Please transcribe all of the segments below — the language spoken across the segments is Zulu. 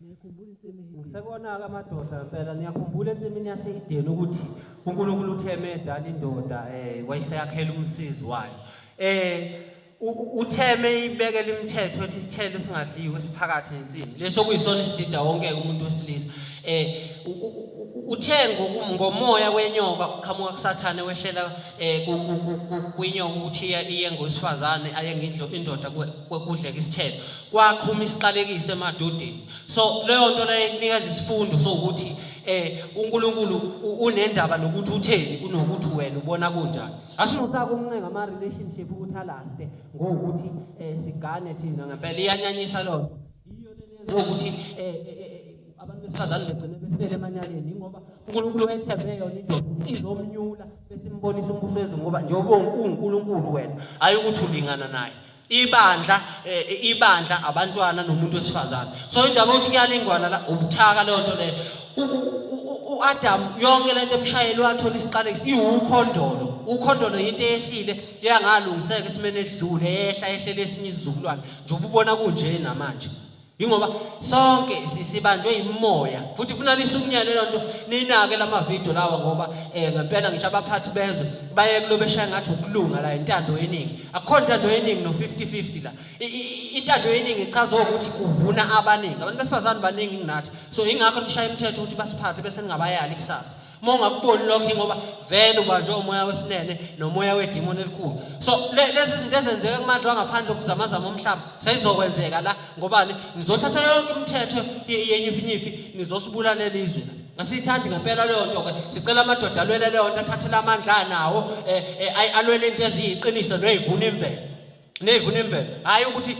Ngisekona-ke amadoda mpela niyakhumbula ensimini yaseyideni ukuthi uNkulunkulu uthe medala indoda um eh, wayeseyakhela umsizi wayo um utheme ibekela imithetho ethi isithelo esingadliwe esiphakathi nensimbi leso kuyisona isidida wonke-ke umuntu wesilisa um uthe ngomoya wenyoka uqhamuka kusathane wehlela um kwinyoka ukuthi iye ngowesifazane aye indoda kudleka isithelo kwaqhuma isiqalekiso emadodeni so leyo nto leyo ikunikeza isifundo sokuthi eh uNkulunkulu unendaba nokuthi utheni kunokuthi wena ubona kunjani asimusaka umncenga ama relationship ukuthi alaste ngokuthi eh sigane thina ngempela iyanyanyisa lona iyo lenzo ukuthi eh, eh, eh abantu besifazane begcine befele emanyaleni ingoba uNkulunkulu wethembe yona into izomnyula besimbonisa umbuso wezulu ngoba njengoba uNkulunkulu wena ayi ukuthi ulingana naye ibandla eh, ibandla abantwana nomuntu wesifazane so indaba ukuthi kuyalingwana la ubuthaka leyo nto leyo uAdam yonke lento emshayeli wathola isiqalekiso iwukhondolo ukhondolo yinto eyehlile yangalungiseka esimene edlule ehla ehlele esinye isizukulwane nje ububona kunje namanje yingoba sonke sibanjwe yimoya futhi funa nisukunyele lento ninake lamavidiyo lawa ngoba eh ngempela ngisho abaphathi bezwe baye kulo beshaya ngathi ukulunga la intando yeningi akukho intando yeningi no 50-50 la intando yeningi ichaza ukuthi kuvuna abaningi abantu besifazane baningi kunathi so ingakho nishaya imithetho ukuthi basiphathe bese ningabayali kusasa uma ungakuboni lokho ingoba vele ubanjwe umoya wesinene nomoya wedimoni elikhulu so lezi zinto ezenzeka kumandla wangaphandle okuzamazama umhlaba seyizokwenzeka la ngobani nizothatha yonke imithetho yenyufinyufi nizosibulalela izwe la Asiyithandi ngempela leyo nto ke. Sicela amadoda alwele leyo nto athathele amandla anawo eh, eh alwele into eziyiqiniso noyivuna imvelo. Neyivuna imvelo. Hayi ukuthi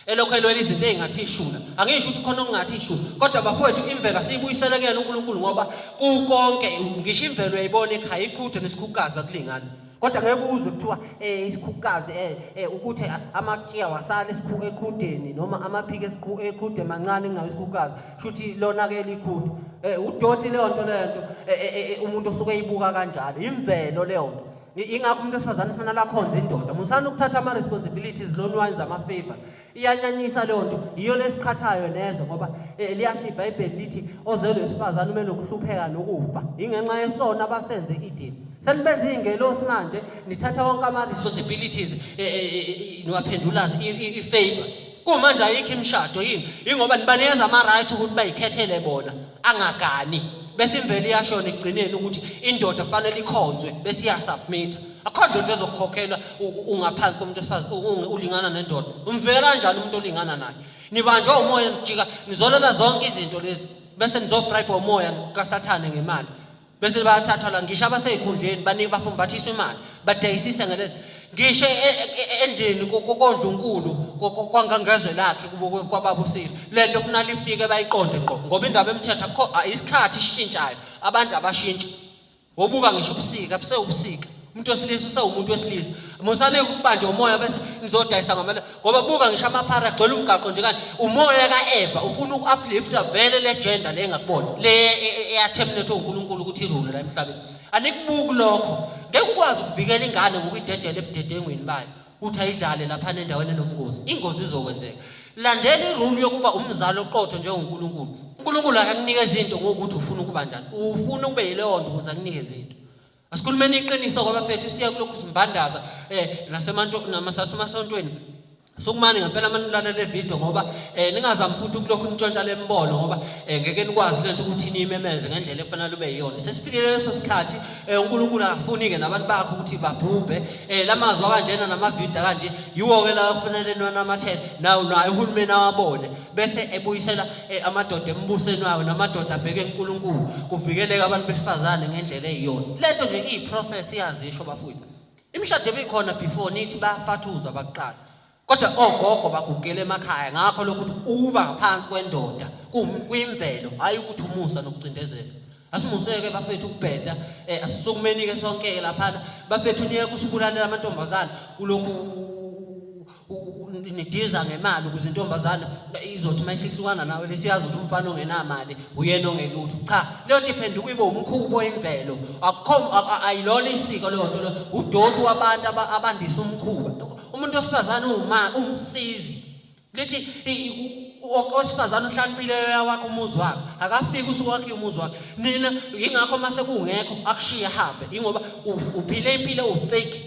elokhu elwela izinto ezingathi ishula angisho ukuthi khona okungathi ishula kodwa bafowethu imvelo asiyibuyisele kuyena uNkulunkulu ngoba kukonke ngisho imvelo uyayibona ekhaya iqhuthe nesikhukaza kulingana kodwa ngeke uzwe kuthiwa eh isikhukukazi eh, eh ukuthi amakiya wasala esikhuku eqhudeni noma amaphiki esikhuku eqhude mancane kungawo isikhukukazi shuthi lona ke likhuthu eh udoti leyo nto leyo nto eh, eh, umuntu osuke eyibuka kanjalo imvelo leyo nto ingakho umuntu wesifazane kufanele akhonze indoda musani ukuthatha ama-responsibilities lonwines ama-favor iyanyanyisa leyo nto yiyo lesiqhathayo neze ngoba eh, liyasho ibhayibheli lithi ozelwe wesifazane ume nokuhlupheka nokufa yingenxa yesona abasenze idini senibenza iy'ngelosi manje nithatha wonke ama-responsibilities eh, eh, niwaphendula i-favor kumanje ayikho imishado yini ingoba nibanikeza ama-right ukuthi bayikhethele bona angagani bese imvelo iyashona ekugcineni ukuthi indoda kufanele ikhonzwe bese iyasubmitha akho ndoda ezokukhokhelwa ungaphansi komuntu wesifazane ulingana nendoda umvela kanjani umuntu olingana naye nibanjwa umoya nijika nizolela zonke izinto lezi bese nizobribha umoya kasathane ngemali bese bayathathwa la ngisho abasezikhundleni baningi bafuna bathiswa imali badayisisa ngale ngisho e, e, e, endlini kokondlunkulu kwangangezwe lakhe kwababa usile lento kufuna lifike bayiqonde ngqo ngoba indaba emthetha isikhathi ishintshayo abantu abashintshi wobuka ngisho ubusika busewubusika umuntu wesilisa usawumuntu wesilisa musane ukubanje umoya bese nizodayisa ngamana ngoba buka ngisho amaphara agcwele umgaqo nje kanti umoya ka-eva ufuna uku-uplifta vele le gender le engakubona le eyathemlethe unkulunkulu ukuthi irule la emhlabeni anikubuki lokho ngeke ukwazi ukuvikela ingane ngokuyidedela ebudedengweni bayo ukuthi ayidlale lapha nendaweni enomngozi ingozi izokwenzeka landela irule yokuba umzali oqotho njengonkulunkulu unkulunkulu akakunike izinto ngokuthi ufuna ukuba njani ufuna ube yileyo nto ukuze akunike izinto Asikhulumeni iqiniso kwabafethu siya kulokhu simbandaza eh nasemanto namasasumasontweni Sokumane ngempela manje nilalela le video ngoba eh ningazami futhi ukulokhu nitshontsha le mbono ngoba eh ngeke nikwazi lento ukuthi nimemeze ngendlela efanele ube yiyona. Sesifikile leso sikhathi eh uNkulunkulu akafuni ke nabantu bakhe ukuthi babhubhe. Eh lamazwi kanjena nama video kanje yiwo ke la kufanele niwanamathele nawo naye uhulumeni awabone. bese ebuyisela eh, amadoda embusweni wawo namadoda abheke uNkulunkulu kuvikeleka abantu besifazane ngendlela eyiyona lento nje iyiprocess iyazisho bafowethu imishado ebikhona before nithi bayafathuza bakuqala kodwa ogogo bagugela emakhaya ngakho lokuthi uba ngaphansi kwendoda kuyimvelo hayi ukuthi umusa nokucindezela asimuseke bafethu ukubheda eh, asisukumeni-ke sonke-ke laphana bafethu niye kusibulalela amantombazane ulokhu nidiza ngemali ukuze intombazane izothi uma isihlukana nawe lesiyazi ukuthi umfana ongenamali uyena ongelutho cha leyo nto iphenduka ibe umkhubo imvelo akukho ayilona isiko leyo nto leyo udoti wabantu abandisa umkhuba umuntu wesifazane uwuma umsizi lithi owesifazane uhlaniphile wakho umuzi wakhe akafiki usuku wakhe umuzi wakhe nina yingakho uma sekungekho akushiye hambe yingoba uphile impilo ufake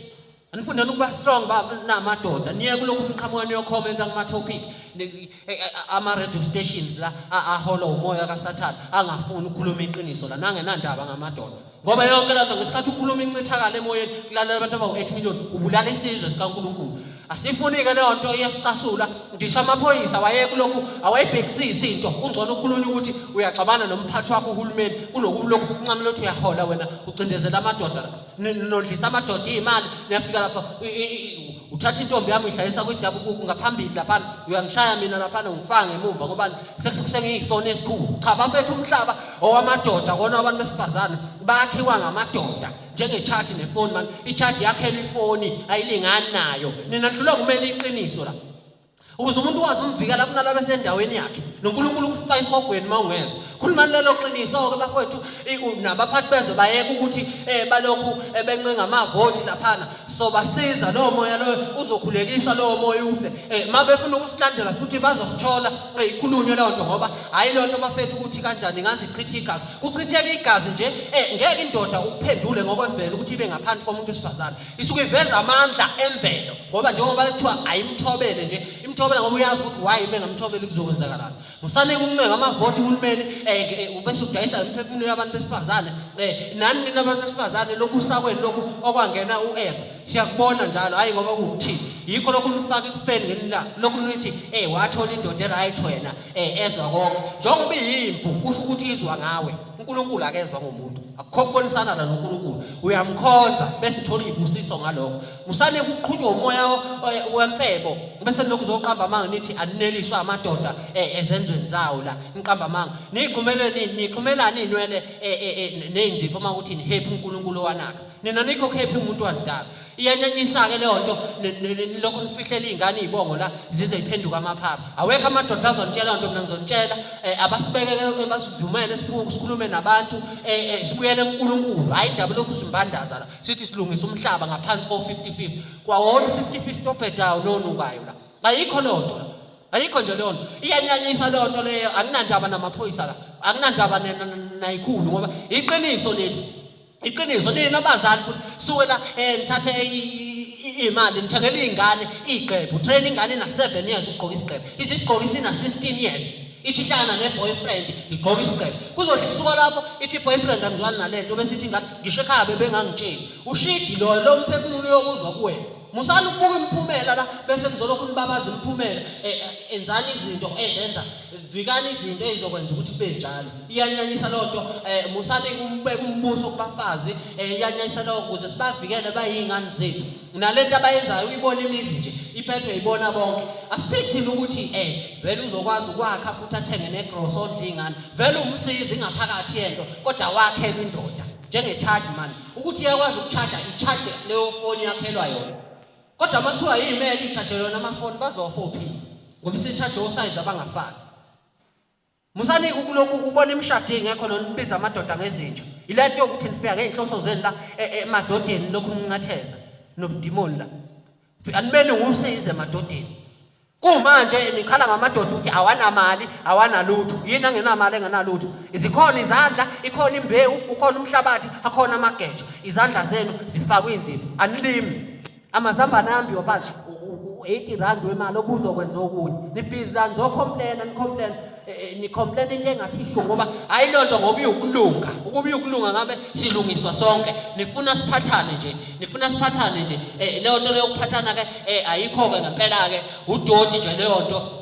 anifundela ukuba strong ba namadoda niye kulokhu umqhamuka niyokhomenta kuma-topic e, e, ama-radio stations la ahola umoya kasathane angafuni ukukhuluma iqiniso la nangenandaba ngamadoda ngoba yonke lento ngesikhathi ukhuluma incithakala emoyeni kulalela abantu abawu-eight million ubulala isizwe sikankulunkulu asifuni-ke leyo nto iyasicasula ngisho amaphoyisa wayekulokhu awayibhekisisi into kungcono ukukhulunywa ukuthi uyaxabana nomphathi wakho uhulumeni kunokulokhu uncamela ukuthi uyahola wena ucindezela amadoda nilondlisa amadoda iy'mali niyafika lapha uthatha intombi yami uyidlalisa kwidabukuku ngaphambili laphana uyangishaya mina laphana ungifaka ngemumva ngobani sengiyisona esikhulu cha bafethu umhlaba owamadoda kona abantu besifazane bakhiwa ngamadoda njengechaji nefoni mani ichaji yakhela ifoni ayilingani nayo nina nihlulwa kumele iqiniso la ukuze umuntu wazi umvikela kunala besendaweni yakhe noNkulunkulu ukufika isihogweni uma ungeza khulumani lelo qiniso-ke bakwethu nabaphathi bezwe bayeka ukuthi um balokhu eh, bencenga amavoti laphana sobasiza lowo moya loyo uzokhulekiswa lowo moya ufe um eh, ma befuna ukusilandela futhi bazosithola eh, ikhulunywe leyo nto ngoba hhayi leyo nto bafethu ukuthi kanjani ingazichitha igazi kuchitheka igazi nje um ngeke indoda ukuphendule ngokwemvelo ukuthi ibe ngaphansi komuntu wesifazane isuke iveza amandla emvelo ngoba njengoba kuthiwa ayimthobele nje imthobela ngoba uyazi ukuthi why uma engamthobeli kuzokwenzakalani musane kuncenga amavoti uhulumeni um ubese udayisa imiphefumulo yabantu besifazane um nani nina abantu besifazane lokhu usakweni lokhu okwangena u-eva siyakubona njalo hhayi ngoba kuwukuthini yikho lokhu nifaka ikufeni ngenila lokhu nithi ey wathola indoda eright wena um ezwa konke njengoba iyimvu kusho ukuthi izwa ngawe unkulunkulu akezwa ngomuntu akukho kubonisana la noNkulunkulu uyamkhonza bese thola izibusiso ngaloko musane kuqhutshwa umoya wemfebo bese lokhu zoqamba amanga nithi anineliswa amadoda ezenzweni zawo la niqamba amanga niqhumele nini niqhumelani inwele nezinzipho uma ukuthi ni happy uNkulunkulu wanaka nina nikho happy umuntu wandala iyanenisa-ke leyo nto lokhu nifihlele iy'ngane iy'bongo la zize iphenduka amaphapha awekho amadoda azontshela nto mina ngizonitshela um eh, abasibekeke eh, basivumele sikhulume nabantu um sibuyele kunkulunkulu hhayi indaba lokhu simbandaza la sithi silungisa umhlaba ngaphansi ko-fifty fifty kwawona u-fifty fifty obhedayo nonukayo la ayikho leyo nto la ayikho nje leyo nto iyanyanyisa leyo nto leyo anginandaba namaphoyisa la anginandaba nayikhulu ngoba iqiniso leli iqiniso nina abazali ukuthi suke la eh nithathe imali nithengela izingane igqephu train ingane na 7 years ugqoka isigqephu ithi sigqoka isina 16 years ithi hlangana ne boyfriend igqoka isigqephu kuzothi kusuka lapho ithi boyfriend angizwani nalento bese ithi ngani ngisho ekhaya bebengangitsheli ushidi lo lo mphefumulo yokuzwa kuwena musani ukubuka imiphumela la bese nizolokhu nibabaza imiphumela e, e, enzani izinto ezenza vikani izinto ezizokwenza ukuthi kube njalo iyanyanyisa loo nto um musani ukubeka umbuso kubafazi um iyanyanyisa loo kuze sibavikele bayiy'ngane zethu nale nto abayenzayo uyibona imizi nje iphethwe yibona bonke asiphiki thina ukuthi um vele uzokwazi ukwakha futhi athenge negrosa odla iy'ngane vele umsizi ingaphakathi yento kodwa wakhela indoda njengechaji mani ukuthi iyakwazi ukuchaja ichaje leyo foni yakhelwa yona kodwa uma kuthiwa yimele ichaje yona amafoni bazofa ophile ngoba isichaje osayizi abangafani musani ukulokhu kubona imishado ingekho nona nibiza amadoda ngezinja ila nto yokuthi nifika ngey'nhloso zenu la e, e, emadodeni lokhu nincatheza nobudimoni la Alimele ngusize emadodeni. Kumanje nikhala ngamadoda ukuthi awanamali, awanalutho. Yini angenamali engenalutho? Izikhona izandla, ikhona imbewu, ukhona umhlabathi, akhona amageja. Izandla zenu zifakwe inzipho. Anilimi. Amazambane ambi wabathi u-80 rand wemali obuzokwenza okunye. Nibhizi la nizocomplaina, nicomplaina. eh, eh, nicomplain into engathi isho ngoba ayilonto ngoba uyokulunga ukuba uyokulunga ngabe silungiswa sonke nifuna siphathane nje nifuna siphathane nje eh, leyo nto leyo kuphathana ke ayikho ke ngempela ke udoti nje leyo nto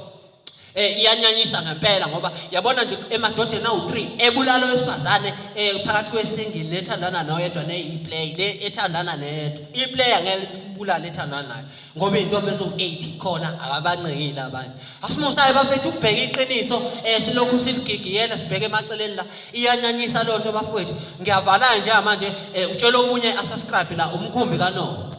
eh iyanyanyisa ngempela ngoba yabona nje emadodeni awu3 ebulalo wesifazane eh phakathi kwesingile nethandana noyedwa ne iplay le ethandana neyedwa iplay angeke ibulale ethandana nayo ngoba intombi ezo 8 khona akabancekile abantu Asimusayo bafethu ukubheka iqiniso eh silokhu siligigiyela sibheke emaceleni la iyanyanyisa loo nto bafowethu ngiyavala nje manje eh utshela omunye asubscribe la umkhumbi kanoba